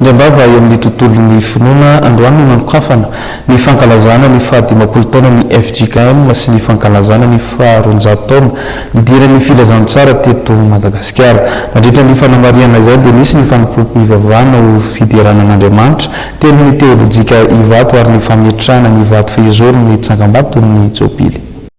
Ny am-bava eo amin'ny tontolon'ny finoana androany no nanokafana ny fankalazana ny faha dimampolo taonan'ny fjkm sy ny fankalazana ny faha roanjato taona nidiran'ny filazantsara teto Madagasikara. Nandritra ny fanamarihana izay dia nisy ny fanompoam-pivavahana ho fiderana an'Andriamanitra teo amin'ny teolojika Ivato ary ny fametrahana ny vato fehizoro ny tsangambaton'ny Jobily.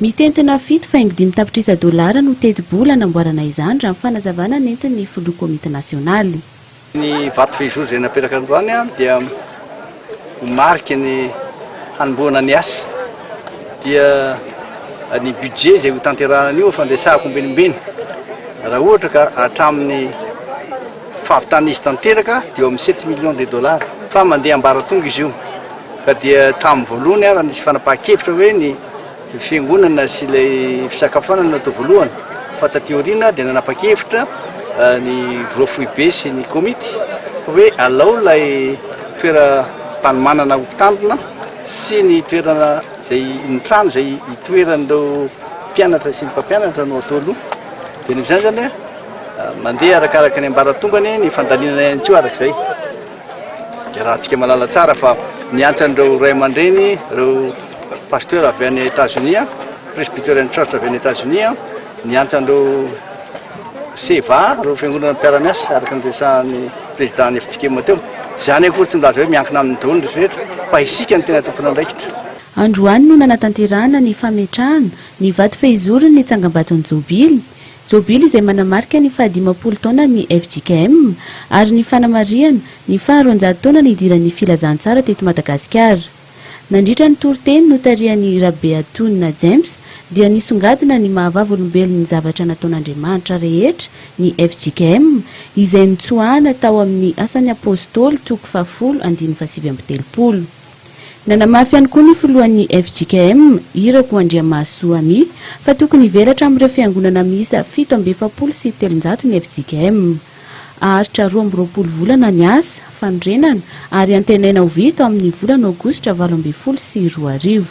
Mitentina fito faingo dimy tapitrisa dolara no tetibola hanamboarana izany, raha ny fanazavana nentin'ny filoha komity nasionaly. Ny vato vejozo izay napetraka androany dia ho mariky ny hanombohana ny asa. Dia ny budget izay hotanterahana an'io fandresahako ambenimbeny, raha ohatra ka hatramin'ny fahavitan'izy tanteraka dia eo amin'ny sept millions de dollars, fa mandeha ambaratonga izy io. Ka dia tamin'ny voalohany ary nisy fanapahan-kevitra hoe ny fiangonana sy ilay fisakafoanana no atao voalohany. Fa taty aoriana dia nanapa-kevitra ny Roa Foibe sy ny Komity hoe alao ilay toeram-panomanana ho mpitandrina sy ny toerana izay, ny trano izay itoeran'ireo mpianatra sy ny mpampianatra no atao aloha. Dia noho izany izany mandeha arakaraka ny ambaratongany ny fandalinana ihany koa araka izay. Iarahantsika mahalala tsara fa niantsa an'ireo ray aman-dreny, ireo pasteur avy any Etazonia, Presbyterian Church avy any Etazonia, niantsa an'ireo SEVA, ireo fiangonana mpiara-miasa, araka ny resahan'ny président ny FJKM teo. Izany akory tsy milaza hoe miankina aminy daholo ny rehetra fa isika no tena tompon'andraikitra. Androany no nanatanterahana ny fametrahana ny vato fehizorony ny tsangambaton'ny Jobily. Jobily izay manamarika ny fahadimampolo taonan'ny fjkm ary ny fanamarihana ny faharoanjato taona nidiran'ny Filazantsara teto Madagasikara. Nandritra ny toriteny notarihan'i Rabeatonina James dia nisongadina ny maha vavolombelon'ny zavatra nataon'Andriamanitra rehetra ny fjkm izay notsoahana tao amin'ny Asan'ny Apôstôly toko fahafolo andininy fahasivy amby telopolo. Nanamafy ihany koa ny filohan'ny fjkm, Irako Andriamahasoa Amy, fa tokony hivelatra amin'ireo fiangonana miisa fito amby efapolo sy telonjato ny fjkm. Haharitra roa amby roapolo volana ny asa fanorenana ary antenaina ho vita ao amin'ny volana aogositra valo ambin'ny folo sy roa arivo.